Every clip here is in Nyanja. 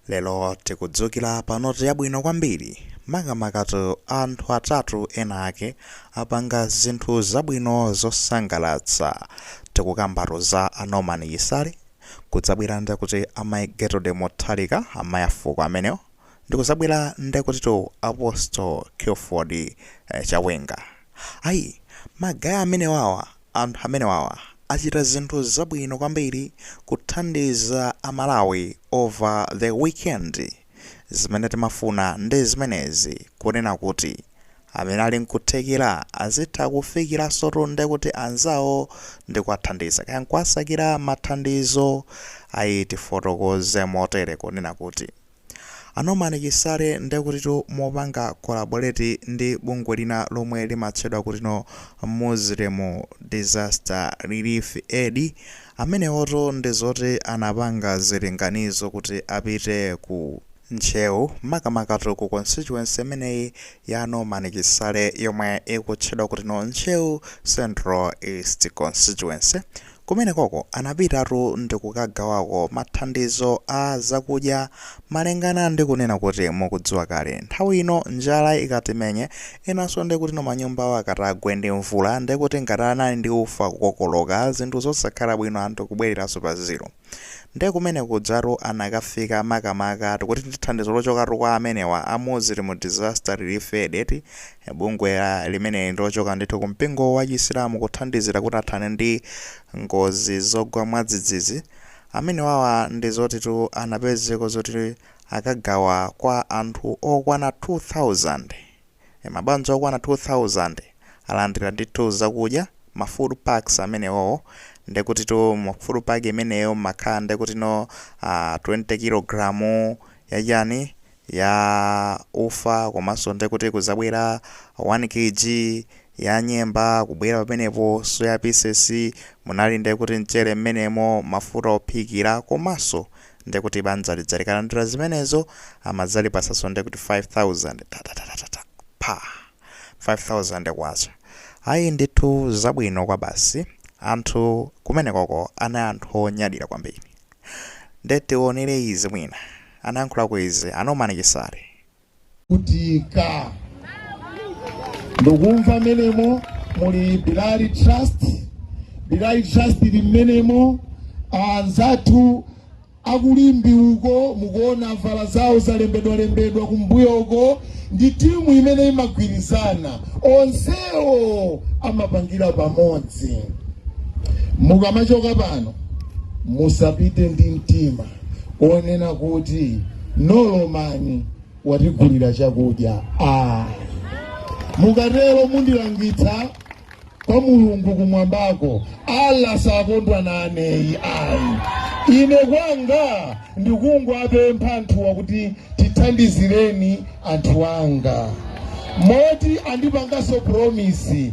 Lero tikudzukira pa note yabwino kwambiri, makamakatu a anthu atatu ena ake apanga zinthu zabwino zosangalatsa. Tikukambatu za a Norman Chisale, kudzabwera nde kuti a Mai Gertrude Mutharika, amai a fuko amenewo, ndikuzabwera nde kutitu Apostle Clifford Chawenga. Ai, ma guy amenewawa Anthu amenewawa achita zinthu zabwino kwambiri kuthandiza a Malawi over the weekend. Zimene timafuna ndi zimenezi kunena kuti amene ali nkuthekera azitha kufikiransotu nde kuti anzawo ndi kuwathandiza kaya nkuwasakira mathandizo ayi tifotokoze motere kunena kuti. A Norman Chisale ndekutitu mopanga collaborate ndi bungwe lina lomwe limatchedwa kutino Muslim Disaster Relief Aid, amenewotu ndizoti anapanga zilinganizo kuti apite ku Ntcheu, makamakatu ku constituency imeneyi ya a Norman Chisale yomwe ikutchedwa kutino Ntcheu Central East Constituency, Kumenekoko anapitatu ndi kukagawako mathandizo a zakudya malingana ndi kunena kuti mukudziwa kale nthawi ino njala ikatimenye enanso ndiye kutino manyumbawo akatagwe ndi mvula ndiye kuti ngati anali ndi ufa kukokoloka zinthu zosakhala bwino anthu kubwereranso pa zero ndiye kumene kujatu anakafika makamaka tikuti ndi thandizo lochokatu kwa amenewa a Muslim Disaster Relief Aid eti Bungwe limene ndi lochoka ndithu ku mpingo wa chisilamu kuthandizira kuti athane ndi ngozi zogwa mwadzidzidzi. Amenewawa ndi zotitu anapezeko zoti akagawa kwa anthu okwana 2000. Mabanja okwana 2000 alandira ndithu zakudya ma food packs amenewowo ndekutitu mu food pack imeneyo mmakhala ndekutino 20 kilogram ya chani ya ufa komanso ndiye kuti kuzabwera 1 kg ya nyemba kubwera pamenepo soya pieces munali ndiye kuti mchere mmenemo mafuta ophikira komanso ndiye kuti banja lija likalandira zimenezo amadzalipatsanso ndiye kuti 5000 pa 5000 kwacha ayi ndithu zabwino kwabasi anthu kumenekoko anali anthu onyadira kwambiri nde tionere izi mwina Anayankhulako izi a Norman Chisale. kutika ndikumva mmenemo muli Bilal Trust Bilal Trust ili mmenemo anzathu aku Limbe uko mukuona avala zawo zalembedwalembedwa kumbuyo uko ndi timu imene imagwirizana onsewo amapangira pamodzi mukamachoka pano musapite ndi mtima onena kuti Norman watigulira chakudya ah. mukatero mundilangitsa kwa mulungu kumwambako allah sakondwa naneyi ayi ine kwanga ndikungowapempha anthuwa kuti tithandizireni anthu anga moti andipanganso promisi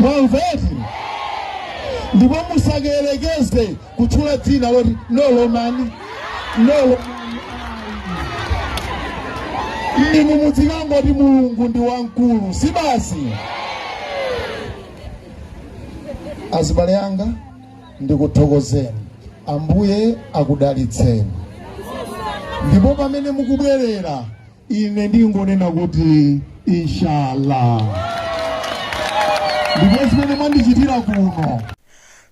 mwamva eti ndipo musayerekeze kutchula dzina loti Norman nolo inu mudzikangoti mulungu ndi wamkulu si basi azibale anga ndikuthokozeni ambuye akudalitseni ndipo pamene mukubwerera ine ndingonena kuti inshallah ndipo zimene mwandichitira kuno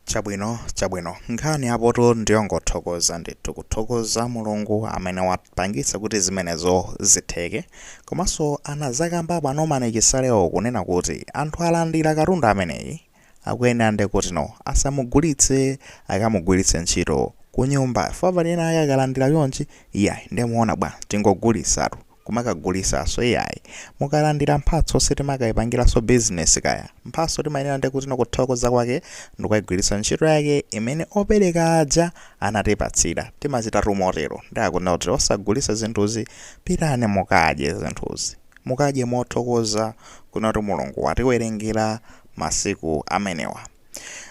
chabwino chabwino nkhani apoto ndiyongothokoza ndithu kuthokoza mulungu amene wapangitsa kuti zimenezo zitheke komanso anazakamba apo a Norman Chisalewo kunena kuti anthu alandira katundu ameneyi akuyenera ndekutino asamugulitse akamugwiritse ntchito kunyumba chifukwa pali ena ake akalandila chonchi iyayi nde muona bwa tingogulisatu kumakagulisaso iyayi mukalandila mphatso sitimakaipangilaso business kaya mphatso timayenela ndekutino kuthokoza kwake ndikukaigwilitsa ntchito yake imene opeleka aja anatipatsila timachitatu motelo nde akunena kuti osagulisa zinthuzi pitani mukadye zinthuzi Mukadye mothokoza kunena kuti Mulungu watiwerengera masiku amenewa.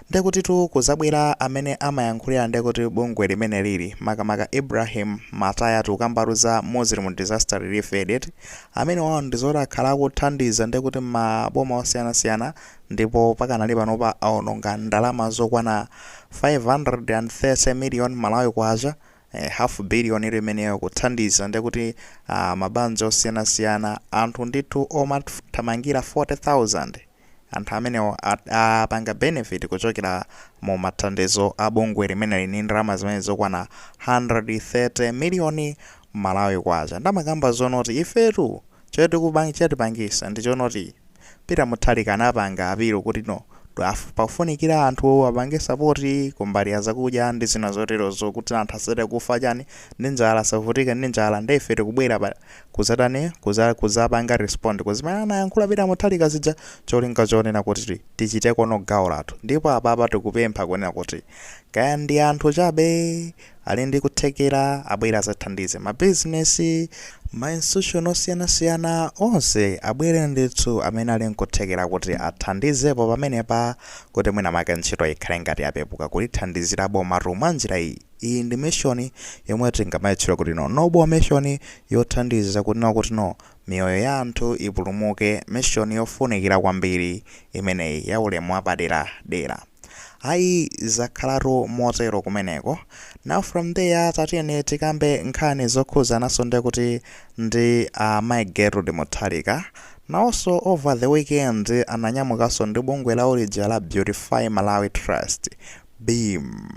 Ndekutitu kuzabwera amene amayankhulira ndekuti bungwe limeneliri makamaka Ibrahim Matayatu kukamba tu za Muslim Disaster Relief Aid eti, amenewao ndizoti akhala akuthandiza ndekuti mmaboma osiyanasiyana ndipo pakanali panopa aononga ndalama zokwana 530 million Malawi kwacha, Eh, half billion ili imeneyo kuthandiza ndekuti ah, mabanja osiyanasiyana anthu ndithu omathamangira 40000 anthu amenewo at- apanga benefit kuchokera mu mathandizo a bungwe limeneli ndi ndalama zimene zokwana 530 miliyoni malawi kwacha nde amakamba zonoti ifetu Chotipangisa ndi chonoti Peter Mutharika anapanga apilo kuti no pakufunikira anthu apange support kumbali yazakudya ndi zina zoterozo kuti anthu asachite kufa chani ndi njala asavutike ndi njala nde ife tikubwera pa kuzatani kuzapanga respond kuzimene anayankhula Peter Mutharika zija cholinga chonena kuti tichiteko gawo lathu ndipo apapa tikupempha kunena kuti kaya ndi anthu chabe ali ndi kuthekera abwere azathandize ma business ma institution osiyanasiyana onse abwere ndithu amene ali nkuthekera kuti athandizepo pamenepa kuti mwina make ntchito ikhale ngati yapepuka kulithandizira bomatu mwa njira iyi iyi ndi mission yomwe tingamayitchula kuti no noble mission yothandiza kuti no kuti no miyoyo ya anthu ipulumuke mission yofunikira kwambiri imeneyi ya ulemu wapadera dera ayi zakhalatu motero kumeneko now from there tatiyeni tikambe nkhani zokhuzananso ndekuti ndi a uh, Mai Gertrude Mutharika nawonso over the weekend ananyamukanso ndi bungwe lawo ulija la Beautify Malawi Trust Beam.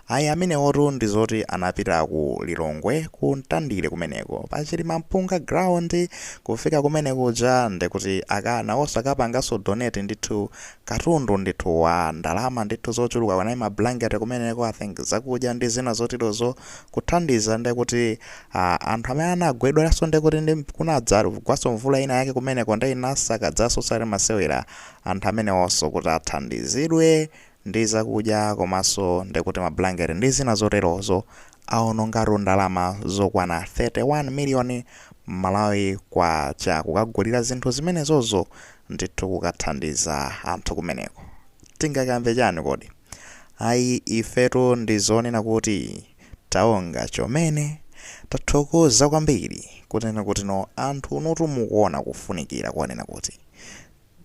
Ayi amenewotu ndi zoti anapita ku Lilongwe ku Mtandire kumeneko pa Chilimampunga ground kufika kumenekuja ndekuti akana oh akapanganso donate ndithu katundu ndithu wa ndalama ndithu zochuluka kunali ma blanket kumeneko I think zakudya ndi zina zoterozo kuthandiza ndekuti ah, anthu amene anagwedwanso ndekuti ndi kunadzagwanso mvula ina yake kumeneko nde inasakadzanso si masewera anthu amenewonso kuti athandizidwe ndi zakudya komaso ndikuti ma blanket ndi zina zoterozo awonongatu ndalama zokwana 31 million Malawi kwacha kukagulira zinthu zimenezozo ndithu kukathandiza anthu kumeneko tingakambe chani kodi ayi ifetu ndi zonena kuti taonga chomene tathokoza kwambiri kunena kuti no anthu inutu mukuona kufunikira konena kuti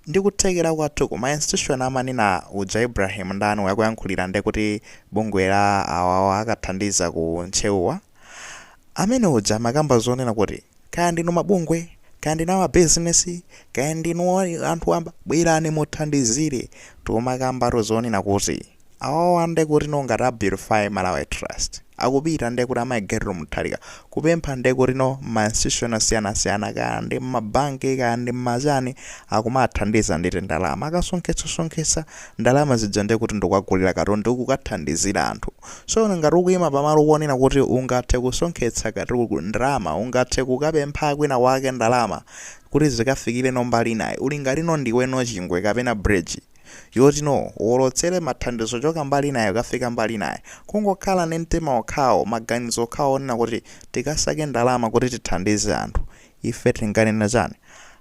ndi kuthekera kwathu ku ma institution amanena uja Ibrahim ndani uyu woyankhulira nde kuti bungwe la awawa akathandiza ku Ntcheu wa amene uja amakamba zonena kuti kaya ndinu mabungwe kaya ndinu ama business kaya ndinu anthu wamba bwerani muthandizire timakambatu zonena kuti Awawa nde kuti no ngati a beautify Malawi trust akupita nde kuti amayi Gertrude Mutharika kupempha nde kuti no mma institution osiyanasiyana kaya ndi mma bank kaya ndi mma chani akumathandiza ndi tindalama akasonkhetsa sonkhetsa ndalama zija nde kuti ndikukagulira katundu kukathandizira anthu so ngati ukuyima pamalo ponena kuti ungathe kusonkhetsa katundu ndalama ungathe kukapempha kwina kwake ndalama kuti zikafikire no mbali inayi uli ngati no ndiwe no chingwe kapena bridge yoti no uwolotsere mathandizo kuchoka mbali inayo kukafika mbali inayo kungokhala ndi mtima wokhawo maganizo okhawo onena kuti tikasake ndalama kuti tithandize anthu ife tinganena chani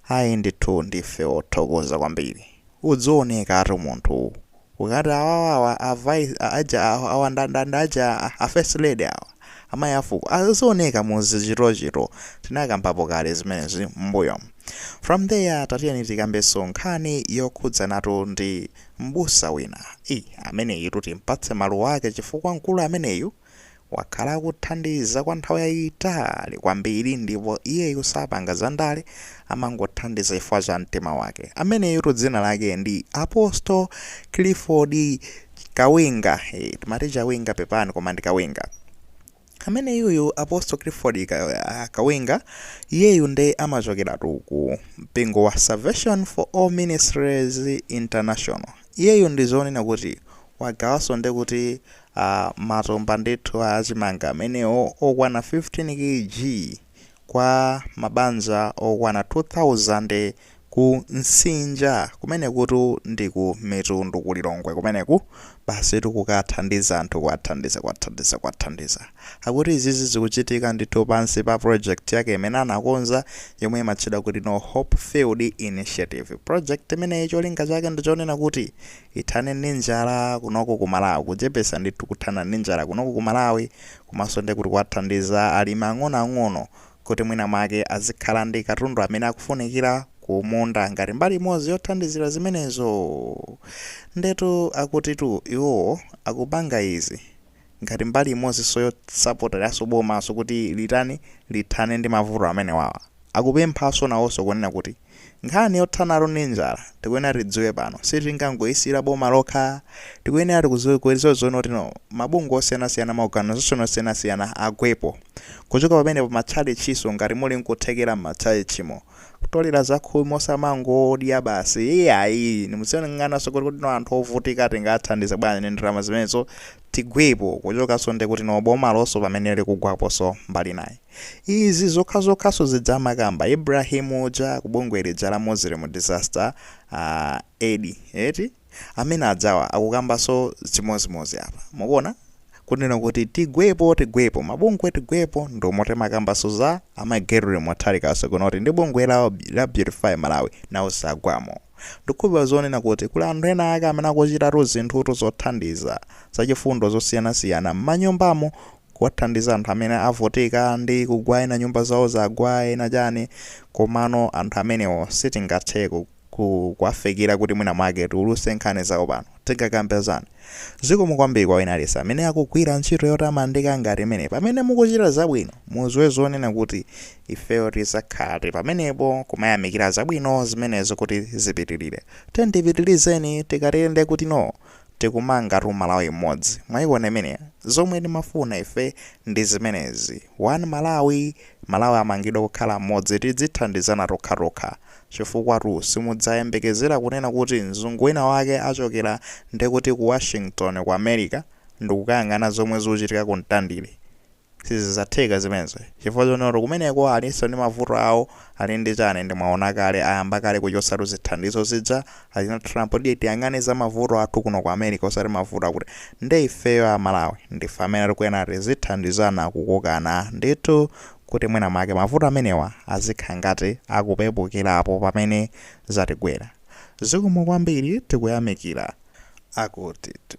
ayi ndithu ndife othokoza kwambiri uzioneka ngati munthu ukati awawawa avice a- aja awa awa nda- nda- nda aja a- a first lady awa amayi afuko azioneka muzichitochito tinakambapo kale zimenezi m'mbuyomu From there tatiyeni tikambenso nkhani yokhudzanatu ndi m'busa wina. Iii ameneyitu timpatse maluwa ake chifukwa mkulu ameneyu wakhala akuthandiza kwa nthawi yayitali kwambiri ndipo iyeyu sapanga za ndale amangothandiza chifukwa cha mtima wake. Ameneyutu dzina lake ndi Apostle Clifford Kawinga. Eee timati Chawinga pepani koma ndi Kawinga. Ameneyuyu Apostle Clifford Kawinga iyeyu nde amachokeratu ku mpingo wa Salvation for All Ministries International. Iyeyu ndi zonena kuti wagawanso nde kuti uh, matumba ndithu a chimanga amene okwana 15 kg. kwa mabanja okwana 2,000 ku Msinja kumenekutu ndi ku Mitundu ku Lilongwe kumeneku basitu kukathandiza anthu kuwathandiza kuwathandiza kuwathandiza akuti izizi zikuchitika ndithu pansi pa project yake imene anakonza yomwe imatchedwa kuti No Hope Field Initiative project imeneyi cholinga chake ndi chonena kuti ithane ndi njala kunoko ku Malawi kuchepesa ndithu kuthana ndi njala kunoko ku Malawi Komanso ndiye kuti kuwathandiza alimi ang'onoang'ono kuti mwina mwake azikhala ndi katundu amene akufunikira kumunda ngati mbali imodzi yothandizira zimenezo. Ndetu akutitu iwowo akupanga izi ngati mbali imodzinso yosapoteranso bomanso kuti litani lithane ndi mavuto amenewawa. Akupemphanso nawonso kunena kuti. Nkhani yothanatu ndi njala tikuyenera tidziwe kuti pano sitingangoyisiyira boma lokha tikuyenera tikuziwe zonena kuti mabungwe osiyanasiyana maorganization osiyanasiyana agwepo kuchoka pamenepo matchalitchinso ngati muli nkuthekera mmatchalitchimo kutolera zakhumi osamangodya basi iyayi muziyang'ananso kuti kodi anthu ovutika tingawathandize bwanji ndi ndalama zimenezo tigwepo kuchokanso ndekuti bomalonso pamene likugwaponso mbali inayi. Izi zokhazokhaso zija amakamba Ibrahim uja ku bungwe lija la Muslim disaster aid eti amene ajawa akukambaso chimozimozi apa mukuona kunena kuti tigwepo tigwepo mabungwe tigwepo ndomo timakambaso za amai Gertrude Mutharikaso kunena kuti ndi bungwe la, la Beautify Malawi nawonso agwamo ndikukhulupirira zonena kuti kuli anthu ena ake amene akuchitatu zinthutu zothandiza zachifundo zosiyanasiyana mmanyumbamo kuwathandiza anthu amene avutika ndi kugwa ena nyumba zawo zagwa ena chani komano anthu amenewo sitingathe ku ku kuwafikira kuti mwina mwake tiuluse nkhani zawo pano tingakambe zani zikomo kwambiri kwa wina aliyense amene akugwira ntchito yotamandika ngati imeneyi pamene mukuchita zabwino muziwe zonena kuti ifeyo tizakhala tili pamenepo kumayamikira zabwino zimenezo kuti zipitilire tiyeni tipitirizeni tikatero ndiye kuti noo tikumangatu malawi mmodzi mwayiwona imeneyo zomwe timafuna ife ndi zimenezi one malawi malawi amangidwa kukhala mmodzi tidzithandizana tokhatokha chifukwatu simudzayembekezera kunena kuti mzungu wina wake achokera ndikuti ku washington ku america ndikukayang'ana zomwe zikuchitika ku mtandire Sizidzatheka zimenezo chifukwa nawonsotu kumeneko alinso ndi mavuto awo ali ndi chani ndi mwaona kale ayamba kale kuchotsatu zithandizo zija achina Trump tiye tiyang'ane za mavuto athu kuno ku America osati mavuto akuti nde ifeyo a Malawi ndife amene tikuyenera tizithandizana kukokana ndithu kuti mwina mwake mavuto amenewa azikhala ngati akupepukirapo pamene zatigwera zikomo kwambiri tikuyamikira akutitu.